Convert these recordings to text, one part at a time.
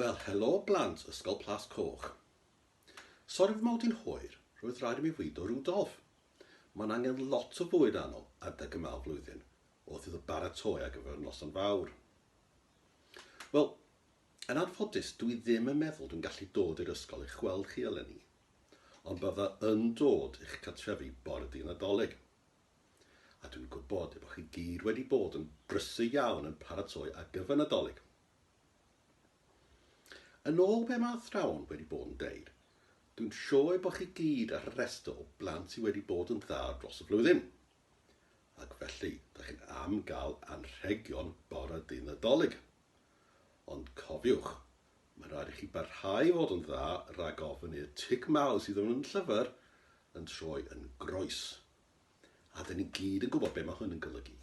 Wel, helo blant Ysgol Plas Coch. Sori fy mod i'n hwyr, roedd rhaid i mi fwydo Rudolf. Mae'n angen lot o fwyd arno adeg yma o'r flwyddyn wrth iddo baratoi ar gyfer y noson fawr. Wel, yn anffodus, dwi ddim yn meddwl dwi'n gallu dod i'r ysgol eich gweld chi eleni. ond bydda yn dod i'ch cartrefi bore dydd Nadolig. A dwi'n gwybod y bod chi gyd wedi bod yn brysur iawn yn paratoi ar gyfer Nadolig. Yn ôl be mae athrawon wedi bod yn deud, dwi'n siŵr y bod chi gyd ar y rhestr o blant sydd wedi bod yn dda dros y flwyddyn. Ac felly, da chi'n am gael anrhegion bore dydd Nadolig. Ond cofiwch, Mae'n rhaid i chi barhau i fod yn dda rhag ofn i'r tig mawr sydd yn y llyfr yn troi yn groes. A dyn ni gyd yn gwybod be mae hwn yn golygu.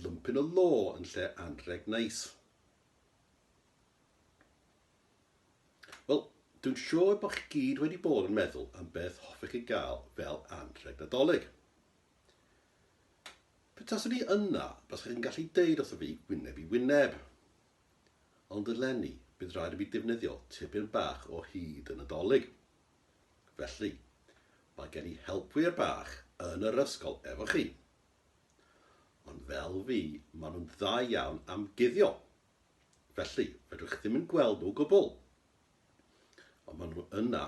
Lumpyn o lo yn lle anrheg neis. Wel, dwi'n siŵr bod chi gyd wedi bod yn meddwl am beth hoffech chi gael fel anrheg Nadolig. Petaswn i yna, baswch chi'n gallu deud wrtho fi wyneb i wyneb. Ond eleni, bydd rhaid i mi ddefnyddio tipyn bach o hud y Nadolig. Felly, mae gen i helpwyr bach yn yr ysgol efo chi. Ond fel fi, maen nhw'n dda iawn am guddio. Felly, fedrwch ddim yn gweld nhw o gwbl. Ond maen nhw yna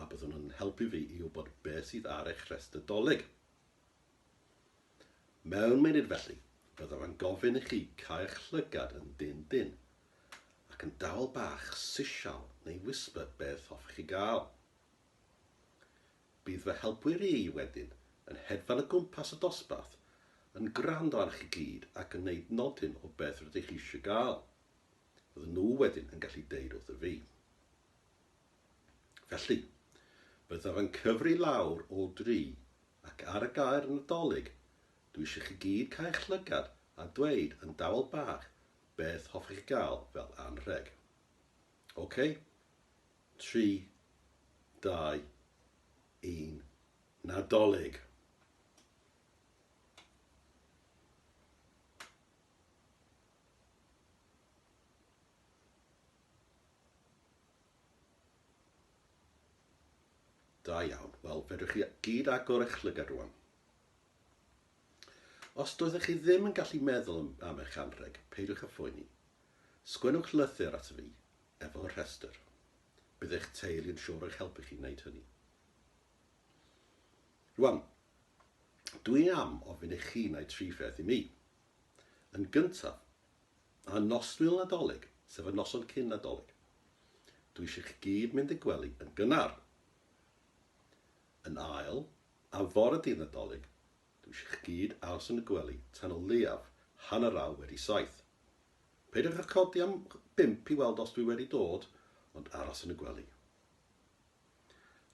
a byddwn yn helpu fi i wybod beth sydd ar eich rhestr Dolig. Mewn munud felly, byddaf yn gofyn i chi cau'ch llygad yn dyn dyn, ac yn dawel bach sisial neu whisper beth hoffech chi gael. Bydd fy helpwyr i wedyn yn hedfan o gwmpas y dosbarth, yn gwrando arnoch chi gyd ac yn neud nodyn o beth rydych chi eisiau gael. Fydden nhw wedyn yn gallu deud wrthyf fi. Felly, byddaf yn cyfri lawr o dri ac ar y gair Nadolig, dwi eisiau chi gyd cau eich llygad a dweud yn dawel bach beth hoffech chi gael fel anrheg. Ok? Tri, dau, un, Nadolig! Da iawn. Wel, fedrwch chi gyd agor eich llygad rwan. Os doeddech chi ddim yn gallu meddwl am eich anrheg, peidiwch â phoeni. Sgwennwch lythyr ato fi, efo rhestr. Bydd eich teulu yn siŵr eich helpu chi wneud hynny. Rwan, dwi am ofyn i chi wneud tri pheth i mi. Yn gyntaf, A noswyl Nadolig, sef y noson cyn Nadolig, dw i eisiau chi gyd mynd i'r gwely yn gynnar. Yn ail, am fore dydd Nadolig, dw i eisiau chi gyd aros yn y gwely tan o leiaf hanner awr wedi saith. Peidiwch â chodi am bump i weld os dw i wedi dod, ond aros yn y gwely.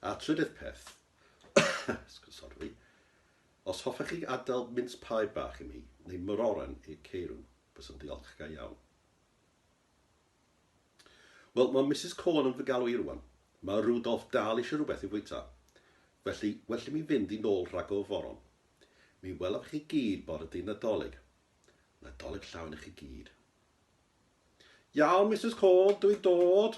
A'r trydydd peth, sori, os hoffech chi adael mince pie bach i mi, neu mororen i'r ceirw, byswn ddiolch ga iawn. Wel, mae Misus Corn yn fy galw i rwan. Mae Rudolf dal eisiau rhywbeth i fwyta. Felly, well i mi fynd i nôl rhag o foron. Mi welaf chi gyd bore dy Nadolig. Nadolig llawn i chi gyd. Iawn, Misus Corn, dw i'n dod!